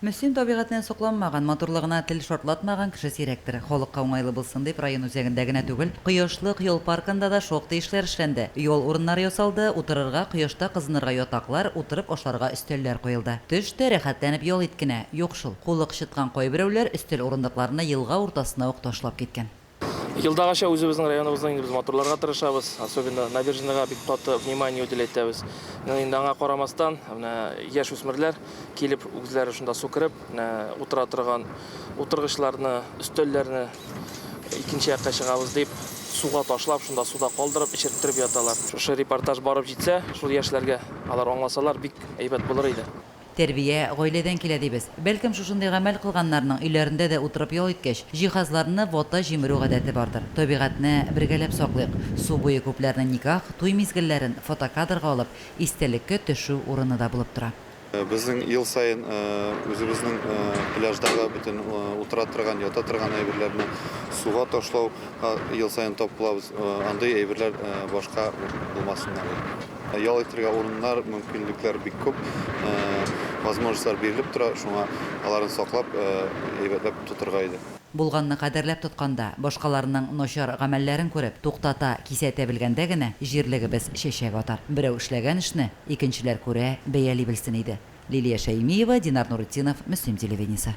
Мөслим табигатенә сокланмаган, матурлыгына тел шартлатмаган кеше сирәктер. Халыкка уңайлы булсын дип, район үзәгендә генә түгел, Кояшлык ял паркында да шактый эшләр эшләнде. Ял урыннары ясалды, утырырга, кояшта кызынырга ятаклар, утырып ашарга өстәлләр куелды. Төш тә, рәхәтләнеп ял ит кенә. Юк шул, кулы кычыткан кайберәүләр өстәл урындыкларны елга уртасына ук ташлап киткән. Елдагыча үзебезнең районыбызны инде без матурларга тырышабыз. Особенно набережныйга бик каты внимание үтел әйтәбез. Менә инде аңа карамастан, менә яшь үсмерләр килеп үзләре шунда су кереп, менә утыра торган утыргычларны, өстәлләрне икенче якка чыгабыз дип, суга ташлап, шунда суда калдырып, эчерттереп яталар. Шушы репортаж барып җитсә, шул яшьләргә алар аңласалар, бик әйбәт булыр иде. Тәрбия, гаиләдән килә дибез. Бәлкем, шушындый гамәл кылганнарның өйләрендә дә утырып ял иткәч, җиһазларны вата җимерү гадәте бардыр. Табигатьне бергәләп саклыйк. Су буе күпләрнең никах, туй мизгелләрен фотокадрга алып, истәлеккә төшү урыны да булып тора. Безнең ел саен үзебезнең пляждагы бөтен утыра торган, ята торган әйберләрне суга ташлау ел саен тап кылабыз. Андый әйберләр башка булмасыннар иде. Ял итергә урыннар, мөмкинлекләр бик күп, возможностьлар бирелеп тора, шуңа аларны саклап, әйбәтләп тотырга иде. Булганны кадерләп тотканда, башкаларның начар гамәлләрен күреп, туктата, кисәтә белгәндә генә җирлегебез чәчәк атар. Берәү эшләгән эшне икенчеләр күрә, бәяли белсен иде. Лилия Шәймиева, Динар Нуретдинов, Мөслим телевидениесе.